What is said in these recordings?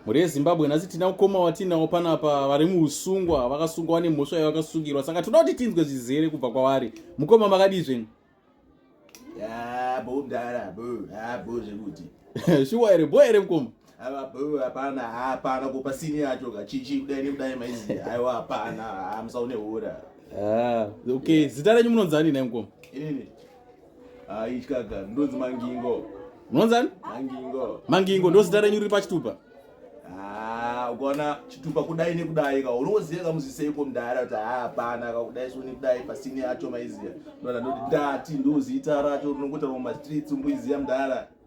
mhuri yezimbabwe nhasi tina ukoma watinawo panapa vari muusungwa vakasungwa vane mhosva yavakasungirwa saka toda kuti tinzwe zvizere kubva kwavari mukoma makadii zvenyu shuwa here bo here mukoma hapana hapana kupa sini yacho kachichi kudai nekudai maizi aiwa hapana musaune hura ah, okay zita renyu munonzani nai mukoma inini aityaka ndonzi mangingo unonzani mangingo mangingo ndozita renyu riri pachitupa ah, ukaona chitupa kudai nekudai ka unoziva kamuziseiko mdara kuti hapana ah, kakudai soni kudai pasini yacho maiziva ndona ndoti ndati ndozita racho rinongotaura mumastreets umbuiziva mdara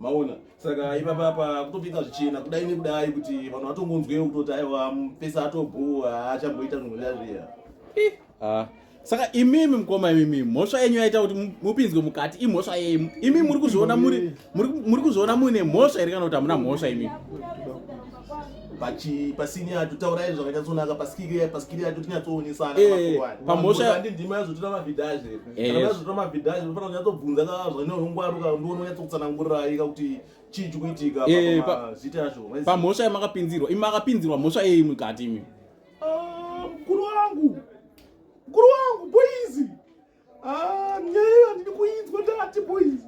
maona saka ipapa pa kutopinza zvichena kudai nekudai kuti vanhu vatongonzwewo kutoti aiwa pesa atobhuwa achamboita zvinhu zviya zviya ah. saka imimi mukoma imimi mhosva yenyu yaita kuti mupinzwe mukati imhosva yemu imimi muri kuzviona muri kuzviona muine mhosva here kana kuti hamuna mhosva imimi pachi pasini yacho taurai zvakanyatsonaka pasikiri yacho pasikiri yacho tinyatsoonesana eh, pamhosha yandi ndima yazotora mabhidhaje eh. kana yazotora mabhidhaje unofanira kunyatsobvunza ka zvine ungwaruka ndoona unyatsokutsanangurirai ka kuti chii chikuitika eh, pamazita yacho pamhosha yamakapinzirwa imi makapinzirwa mhosva yei mukati imi ah, mukuru wangu mukuru wangu boizi Ah, nyaya handidi kuinzwa ndati boys.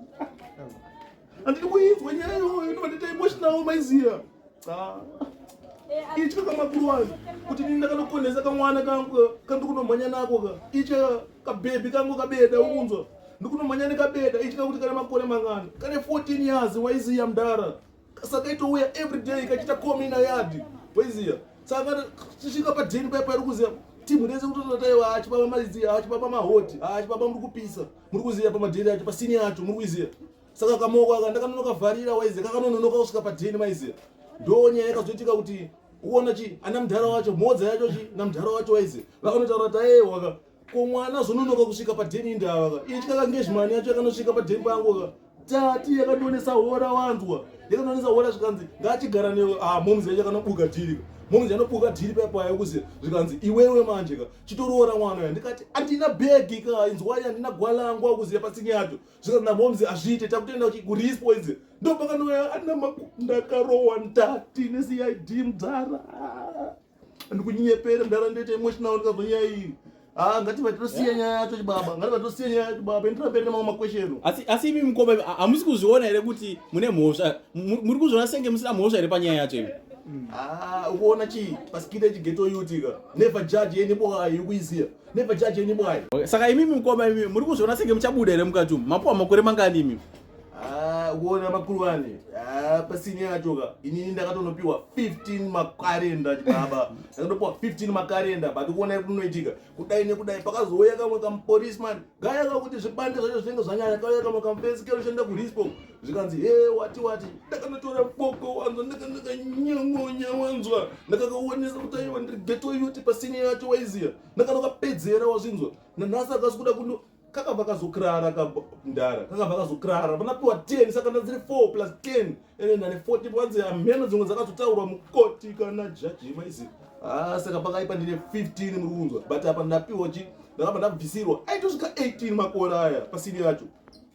Handidi kuinzwa nyaya iyoyo ndovandaita emotional maiziva. Ah. Itya kamakuru wangu kuti nini ndakanokonesa kamwana kangu kandiri kunomhanya nako ka. Itya kabhebhi kangu kabeda ukunzwa. Ndiri kunomhanya nekabeda itya kuti kane makore mangana. Kane 14 years waiziya mdara. Saka itouya every day ikachita komi ina yadi poiziya saka tisvika padhini paya pairi kuziya timu rese kutototaiwa hachi baba maiziya hachi baba mahoti hachi baba muri kupisa muri kuziya pamadhini acho pasini yacho muri kuiziya saka kamoko aka ndakanonokavarira waiziya kakanononoka kusvika padhini maiziya ndo nyaya yakazoitika kuti uona chi ana mudhara wacho mhodza yacho chi namudhara wacho waiziya vakanotaura taewaka Ko mwana azononoka kusvika padheni indi ava ka. Itya ka ngezhimani yacho yakanosvika padheni pangu ka. Tati yakandionesa hora wanzwa. Yakandionesa hora zvikanzi ngachigara newe. Ah momzi yacho yakanobuka dhiri ka. Momzi yanobuka dhiri paya paya kuzi zvikanzi iwewe manje ka. Chitoroora mwana ya. Ndikati andina bhegi ka. Inzwai andina gwalangwa kuzi yapatsinye yacho. Zvikanzi na momzi azviite takutoenda kurispo idzi. Ndopakanoya ana maku ndakarowa ndati ne CID mdzara. ndikunyepere mdara ndoita emotional ndikazonyaya iyi Ah, ngati vatosiya nyaya yacho chibaba ngati vatosiya nyaya yacho chibaba endira mberi nemamwe makwesheno asi asi imi mukoma imi, ha- hamusi kuzviona here kuti mune mhosva Mu- muri kuzviona senge musina mhosva here panyaya yacho imi Ah, ukuona chii pasikita chigeto yutika never judge yeni bwayi ukuiziya never judge yeni bwayi saka imimi mukoma imi muri kuzviona senge muchabuda here mukati umu mapuwa makore mangani imi Ah, kuona makuru wane ah, pasini yachoka inini ndakatonopiwa 15 makarenda chibaba ndakatopiwa 15 makarenda but kuona kunoitika kudai nekudai pakazouya kamwe kamupolisman gaya kakuti zvibande zvacho zvinenge zvanyanya kauya kamwe kamufensi keushanda kurispo zvikanzi he wati wati ndakanotora boko wanzwa ndakandakanyongonya wanzwa ndakakaonesa kuti aiwa ndiri geto yoti pasini yacho waiziya ndakanokapedzera wazvinzwa nanhasi akasi kuda kuno kakabva kazokirara kamdara kakabva kazokirara vanapiwa 10 saka ndadziri 4 plus 10 ende ndane 40 panzi hameno dzimwe dzakazotaurwa mukoti kana jaji maizi haa ah, saka pakaipa ndine 15 muri kunzwa but apa ndapiwa chi ndakabva ndabvisirwa aitosvika 18 makore aya pasini yacho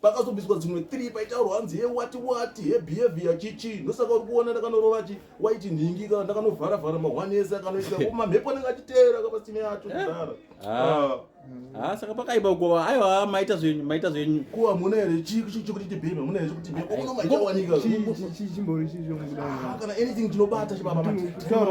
pakazobviswa dzimwe 3 paitaurwa hanzi he wati wati he behavior chichi ndosaka uri kuona ndakanorova chi waiti nhingi kana ndakanovharavhara mahwanese akanoita ko mamhepo anenge achiteera kapasini yacho kudara eh? ah. ah. ha ah, saka pakaipa kuwa aiwa maita zvenyu maita zvenyu kuwa muna here chikuti tibhema muna here chikuti bhema unomaita wanika chimbori chizvo kana anything chinobata chibaba